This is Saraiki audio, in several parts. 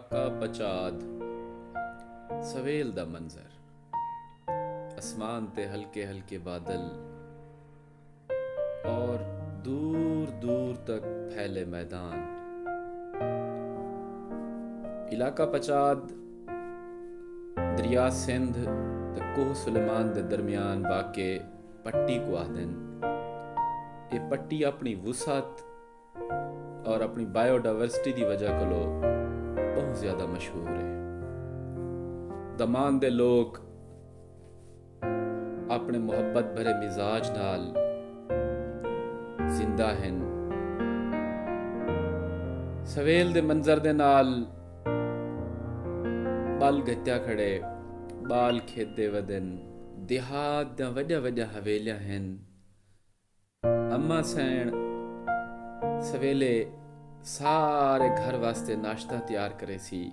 کا پچاد سویل دا منظر اسمان تے ہلکے ہلکے بادل اور دور دور تک پھیلے میدان علاقہ پچاد دریا سندھ تے کوہ سلیمان دے درمیان واقع پٹی کو آہدن اے پٹی اپنی وسعت اور اپنی بائیو ڈائیورسٹی دی وجہ کولو بہت زیادہ مشہور ہے دمان دے لوگ اپنے محبت بھرے مزاج نال زندہ ہیں سویل دے منظر دے نال بال گھتیا کھڑے بال کھیت دے ودن دیہات دا وڈیا وڈیا حویلیاں ہیں اماں سئیݨ سویلے سارے گھر واسطے ناشتہ تیار کریسی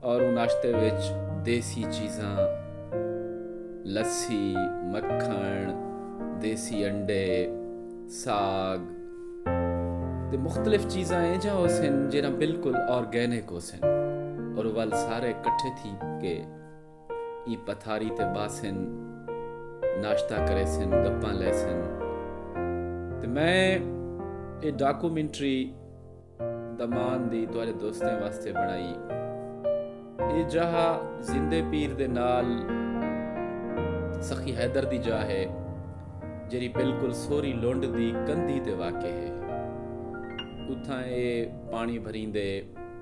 اور اوں ناشتے وچ دیسی چیزاں لسی، مکھݨ، دیسی انڈے، ساڳ تے مختلف چیزاں اینجھاں ہوسن جیرھاں بالکل آرگینک ہوسن اور ول سارے کٹھے تھی کے۔ ایں پتھاری تے ٻہسن، ناشتہ کریسن، گپاں لیسن تے میں اے ڈاکومنٹری دمان دی تہاݙے دوستیں واسطے بݨائی اے جاہ زندے پیر دے نال سخی حیدر دی جاہ ہے جیڑھی بالکل سوری لنڈ دی کندھی تے واقع ہے اتھاں اے پاݨی بھریندے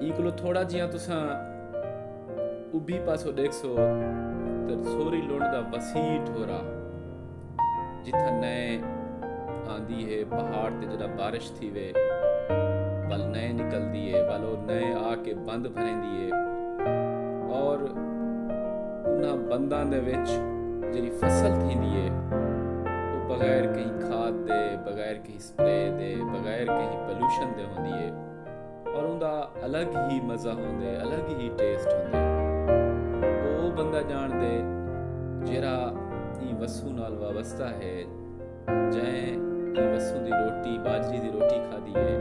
ایں کولو تھوڑا جیاں تساں ابھی پاسو ڈیکھسو تے سوری لنڈ دا وسیع ٹھورا جتھاں نئے آندی ہے پہاڑ تے جڑا بارش تھی وے ول نئے نکل دیے ول او نئے آ کے بند بھریں دیے اور انہاں بنداں دے وچ جڑی فصل تھی دیے او بغیر کہیں کھاد دے بغیر کہیں سپرے دے بغیر کہیں پلوشن دے ہوندی اے اور اوندا الگ ہی مزہ ہوندے الگ ہی ٹیسٹ ہوندے او او بندہ جان دے جیرا ایں وسوں نال وابستہ ہے جائیں ایں وسوں دی روٹی باجری دی روٹی کھا دی اے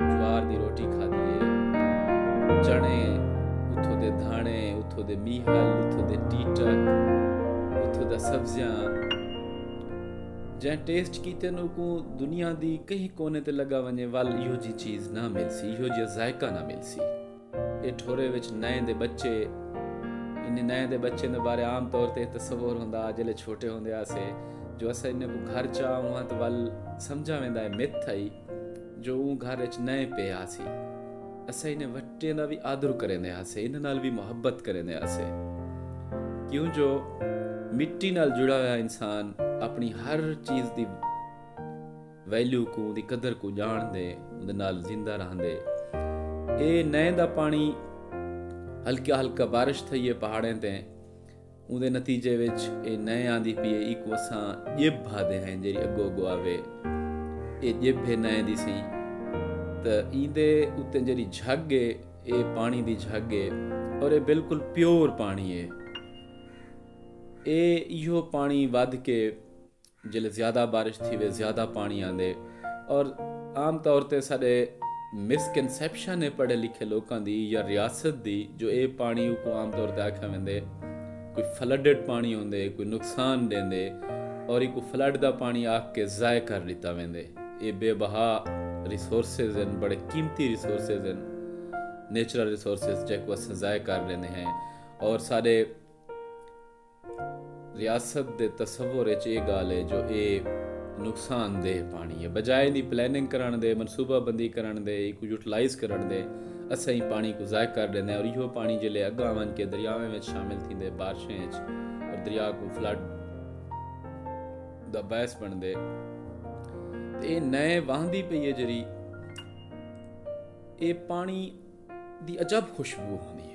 جوار دی روٹی کھا دی اے چنے اتھو دے دھانے اتھو دے میہل اتھو دے ٹیٹک اتھو دا سبزیاں جئیں ٹیسٹ کیتن اوکوں دنیا دی کہیں کونے تے لگا ونجے ول ایہو جی چیز نہ ملسی ایہو جیا ذائقہ نہ ملسی اے ٹھورے وچ نئیں دے بچے انہیں نئیں دے بچے دے بارے عام طور تے تصور ہوندا جلے چھوٹے ہوندے آسے جو اسا انہیں کو گھر چاہوں ہاں تو ول سمجھا ویندا ہے مت تھائی جو اوں گھر اچ نئیں پئے آسی۔ اساں انھیں وٹیں دا وی آدر کریندے ہاسے، انھاں نال وی محبت کریندے ہاسے۔ کیوں جو مٹی نال جڑا ہویا انسان اپݨی ہر چیز دی ویلیو کوں، اوندی قدر کوں ڄاݨدے، اوندے نال زندہ رہندے۔ اے نئیں دا پاݨی ہلکا ہلکا بارش تھئی اے پہاڑیں تے۔ اوندے نتیجے وچ اے نئیں آندی پی اے ایکوں اساں ڄبھ آہدے ہیں جیڑھی اگو اگو آوے اے ڄبھ اے نئیں دی سی تاں ایندے اتے جیڑھی جھگ اے اے پانی دی جھگ اے اور اے بالکل پیور پانی اے اے ایہو پانی ودھ کے جیلے زیادہ بارش تھیوے زیادہ پانڑی آندے اور عام طور تے ساڈے مس کنسپشن ہے پڑھے لکھے لوکاں دی یا ریاست دی جو اے پانڑی اوکوں عام طور تے آکھیا ویندے کوئی فلڈڈ پانڑی ہوندے کوئی نقصان ڈیندے اور ایکوں فلڈ دا پانڑی آکھ کے ضائع کر ڈتا ویندے اے بے بہا ریسورسز ہن بڑے قیمتی ریسورسز ہن نیچرل ریسورسز جیکوں اساں ضائع کر ڈیندے ہیں اور ساڈے ریاست دے تصور اچ اے گالھ اے جو اے نقصان دہ پانڑی اے۔ بجائے دی پلاننگ کرنڑ دے، منصوبہ بندی کرنڑ دے، ایکوں یوٹیلائز کرنڑ دے اساں ایں پانڑی کوں ضائع کر ڈیندے ہاں تے ایہو پانڑی جیلے اگاں ونج کے دریاواں وچ شامل تھیندے بارشیں اچ تے دریا کوں فلڈ دا باعث بنڑدے تے اے نئیں واہندی پئی اے جیہڑی اے پانڑی دی عجب خوشبو ہوندی اے۔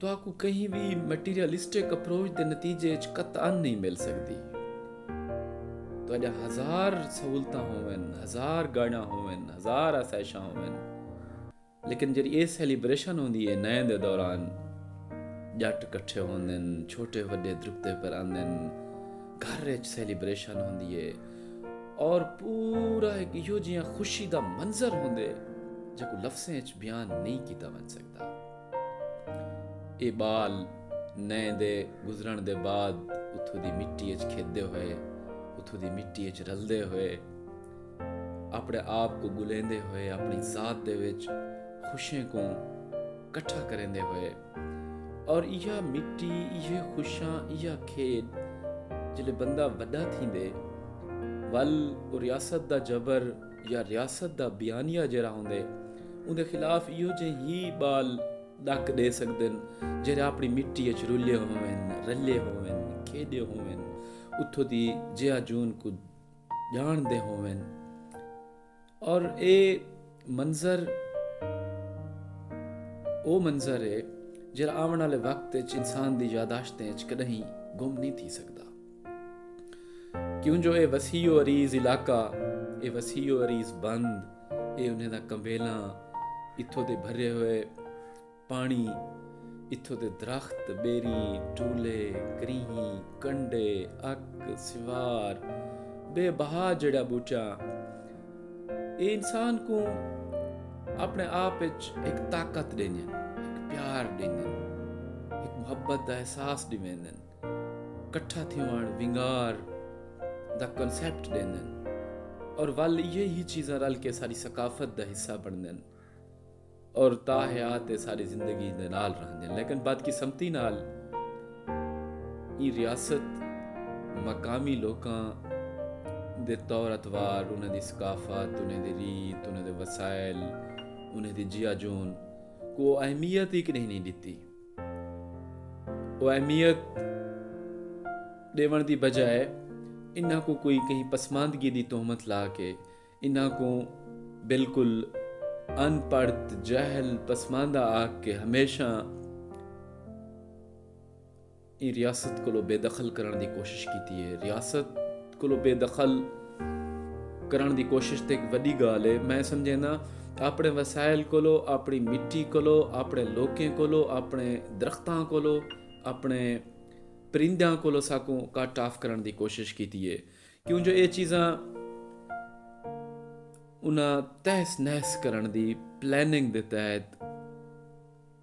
تہاکوں کہیں وی میٹیریلسٹک اپروچ دے نتیجے اچ قطعا نئیں مل سڳدی۔ تہاݙیاں ہزار سہولتاں ہوون، ہزار گاݙیاں ہوون، ہزار آسائشاں ہوون لیکن جیڑھی ایہ سیلیبریشن ہوندی ہے نئیں دے دوران ڄٹ کٹھے ہوندن، چھوٹے وݙے درکتے پر آندن، گھر اچ سیلیبریشن ہوندی ہے اور پورا ہک ایہو جیہاں خوشی دا منظر ہوندے جیکوں لفظیں اچ بیان نئیں کیتا ونڄ سڳدا۔ ایہ ٻال نئیں دے گزرݨ دے بعد اتھوں دی مٹی اچ کھیݙدے ہوئے اتھوں دی مٹی اچ رلدے ہوئے اپنے آپ کو گلیندے ہوئے اپنی ذات دے وچ خوشیں کو کٹھا کریندے ہوئے اور یہ مٹی یہ خوشاں یہ کھیت جلے بندہ وڈا تھی دے ول ریاست دا جبر یا ریاست دا بیانیہ جیرھا ہوندے اوندے خلاف ایہو جے ہی بال ڈک ڈے سگدن جیرھے اپنی مٹی اچ رلے ہوون رلے ہوون کھیڈے ہوون اتھوں دی جیاں جون کوں جان دے ہوون اور اے منظر او منظر ہے جیرھا آون والے وقت اچ انسان دی یاداشتیں اچ کڈہیں گم نہیں تھی سگدا۔ کیوں جو اے وسیع و عریض علاقہ اے وسیع و عریض بند اے انہیں دا کمبیلاں اتھو دے بھرے ہوئے پانی اتھو دے درخت بیری ٹولے کریہی کنڈے اک سوار بے بہا جڑا بوٹا اے انسان کو اپنے آپ اچ ایک طاقت دینے ایک پیار دینے ایک محبت دا احساس دینے کٹھا تھیوݨ، ونگار، دا کنسیپٹ ݙیندن اور ول ایہے ہی چیزاں رل کے ساݙی ثقافت دا حصہ بݨدن اور تا حیات اے ساݙی زندگی دے نال رہندن لیکن بدقسمتی نال ایں ریاست مقامی لوکاں دے طور اتوار انہاں دی ثقافت انہاں دی ریت انہاں دے وسائل انہاں دی جیاجون کو اہمیت ہی کݙہیں نئیں ݙتی۔ او اہمیت ڈیون دی بجائے انہاں کو کوئی کہیں پسماندگی دی تہمت لا کے انہاں کو بالکل ان پڑھت جہل پسماندہ آکھ کے ہمیشہ ریاست کو بے دخل کرن دی کوشش کیتی ہے ریاست کولوں بے دخل کرݨ دی کوشش تے ہک وݙی ڳالھ ہے۔ میں سمجھینداں آپݨے وسائل کولوں، آپݨی مٹی کولوں، آپݨے لوکیں کولوں، آپݨے درختاں کولوں، آپݨے پرندیاں کولوں ساکوں کٹ آف کرݨ دی کوشش کیتی ہے۔ کیوں جو ایہ چیزاں انہاں تہس نہس کرݨ دی پلاننگ دے تحت۔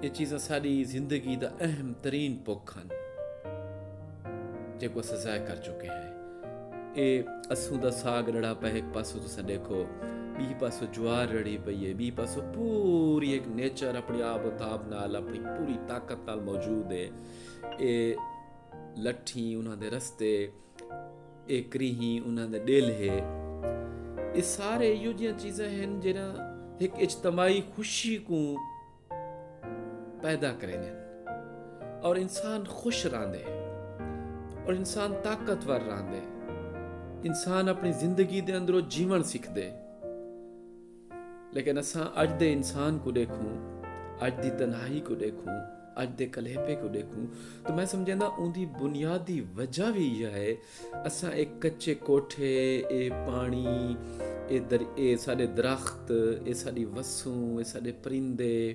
اے چیزاں ساݙی زندگی دا اہم ترین پکھ ہن جیکوں اساں ضائع کر چکے ہیں۔ اے اسوں دا ساڳ ݙڑھا پئے ہک پاسوں تساں ݙیکھو ٻی پاسوں جوار ݙڑھی پئی ہے ٻی پاسوں پوری ہک نیچر اپݨی آب و تاب نال اپݨی پوری طاقت نال موجود ہے۔ اے لٹھیں انہاں دے رستے۔ اے کریہیں انہاں دا ڈیل ہے۔ اے سارے ایہو جیاں چیزاں ہن جیرھاں ہک اجتماعی خوشی کوں پیدا کریندین اور انسان خوش رہندے اور انسان طاقتور رہندے۔ انسان اپݨی زندگی دے اندروں جیوݨ سکھدے۔ لیکن اساں اج دے انسان کوں ڈیکھوں، اج دی تنہائی کوں ڈیکھوں، اج دے کلیپے کوں ڈیکھوں تاں میں سمجھینداں اوندی بنیادی وجہ وی ایہا ہے اساں اے کچے کوٹھے، اے پاݨی، اے ساݙے درخت، اے ساݙی وسوں، اے ساݙے پرندے،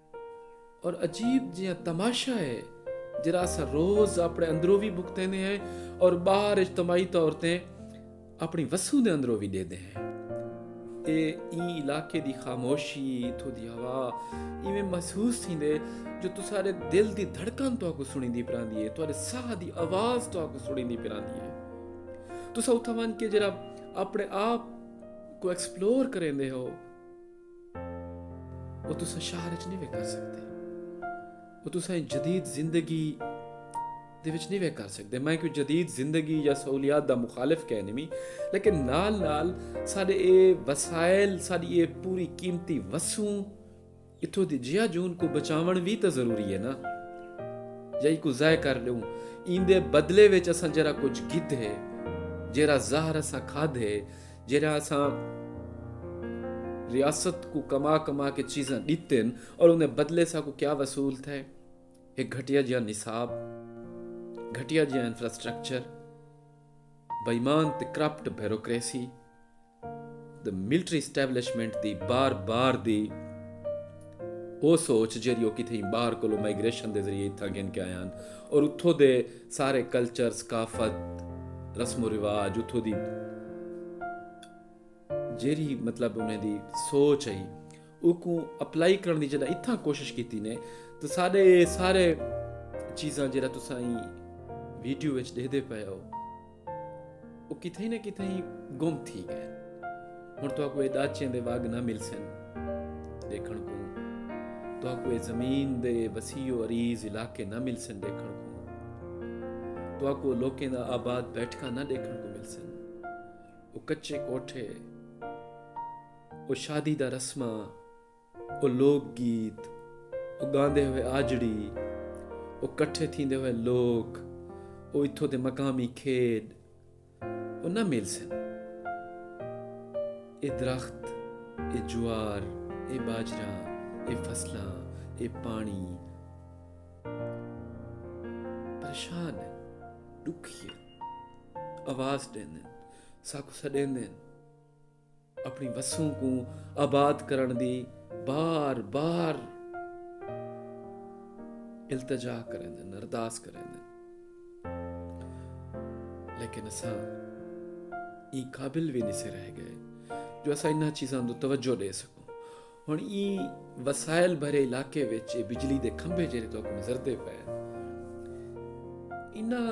اور عجیب جیہاں تماشا ہے جڑا اسا روز اپنے اندروں بھی بھگتیندے ہیں اور باہر اجتماعی طور تے اپنی وسوں دے اندروں بھی دیندے ہیں اے این علاقے دی خاموشی اتھو دی ہوا ایویں محسوس تھیندے جو تسارے دل دی دھڑکن تو کو سنی دی پراندی ہے تسارے ساہ دی آواز تو کو سنی دی پراندی ہے تسا اتھا مان کے جرا اپنے آپ کو ایکسپلور کریں دے ہو وہ تسا شہر اچ نہیں وے کر سکتے وہ تسا جدید زندگی دے وچ نہیں وے کر سکتے میں کوئی جدید زندگی یا سہولیات دا مخالف کہہ نہیں لیکن نال نال سارے اے وسائل ساری اے پوری قیمتی وسوں اتھوں دی جیا جون کو بچاون بھی تو ضروری ہے نا یا یہ کو ضائع کر لوں ایندے بدلے وچ اساں جرا کچھ گدھ ہے جرا زہر اساں کھاد ہے جیرھا اساں ریاست کوں کما کما کے چیزاں ڈتن اور اندے بدلے ساکوں کیا وصول تھے ایک گھٹیا جیاں نصاب گھٹیا جیاں انفراسٹرکچر بائیمان تے کرپٹ بیروکریسی دا ملٹری اسٹیبلشمنٹ دی بار بار دی او سوچ جیری او کتھے بار کلو مائگریشن دے ذریعے تھا گن کے آیاں اور اتھو دے سارے کلچر، ثقافت، رسم و رواج اتھوں دی جیڑھی مطلب انہیں دی سوچ ہئی اوکوں اپلائی کرن دی جڑا اتھاں کوشش کیتی نے تو ساڈے اے سارے چیزاں جڑا تساں ویڈیو وچ ڈیکھدے پئے ہو او کتھائیں نہ کتھائیں گم تھی گئن۔ ہن تہاکوں اے ڈاچیں دے وگ نہ ملسن۔ ڈیکھن کوں۔ تہاکوں اے زمین دے وسیع و عریض علاقے نہ ملسن ڈیکھن کوں۔ تہاکوں او لوکیں دا آباد بیٹھکاں نہ ڈیکھن کوں ملسن۔ او کچے کوٹھے۔ او شادی دا رسماں۔ او لوک گیت، او گاندے ہوئے آجڑی، او کٹھے تھیندے ہوئے لوک، او اتھوں دے مقامی کھیڈ او نہ ملسن۔ اے درخت، اے جوار، اے باجرہ، اے فصلاں، اے پانڑی پریشان ہن، ڈکھی ہن، آواز ڈیندے ہن، ساکوں سڈیندے ہن۔ اپݨی وسوں کوں آباد کرݨ دی بار بار التجا کریندن ارداس کریندن لیکن اساں ای قابل بھی نہیں سے رہ گئے جو اساں انہاں چیزاں دو توجہ دے سکوں ہن ای وسائل بھرے علاقے وچ بجلی دے کھمبے جڑے تو نظر دے پے انہاں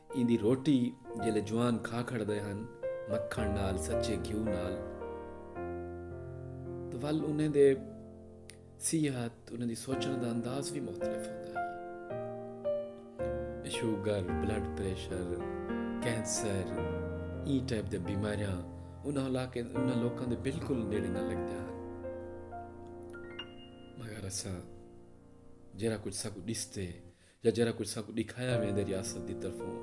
ایندی روٹی جیلے جوان کھا کھڑدے ہن مکھݨ نال سچے گھیو نال تاں ول انہیں دے صحت انہیں دی سوچݨ دا انداز وی مختلف ہوندا ہے شوگر بلڈ پریشر کینسر ای ٹائپ دے بیماریاں انہاں علاقے انہاں لوکاں دے بالکل نیڑے نہ لگ جان مگر اساں جرا کچھ سب ڈستے یا جیرھا کجھ ساکوں ڈکھایا ویندے ریاست دی طرفوں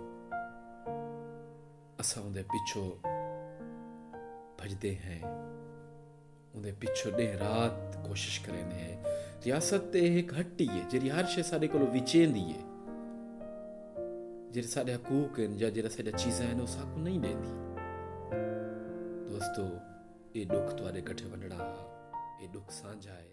اساں اوندے پچھو بھجدے ہیں اوندے پچھو ڈینہ رات کوشش کریندے ہیں ریاست تے ایک ہٹی ہے جیڑی ہر شے ساڈے کولو وچیندی ہے جیڑے ساڈے حقوق ہیں یا جیڑا ساڈا چیزاں ہیں او ساکوں نہیں دیندی دوستو اے دکھ تواڈے کٹھے ونڈڑا اے دکھ سانجھا ہے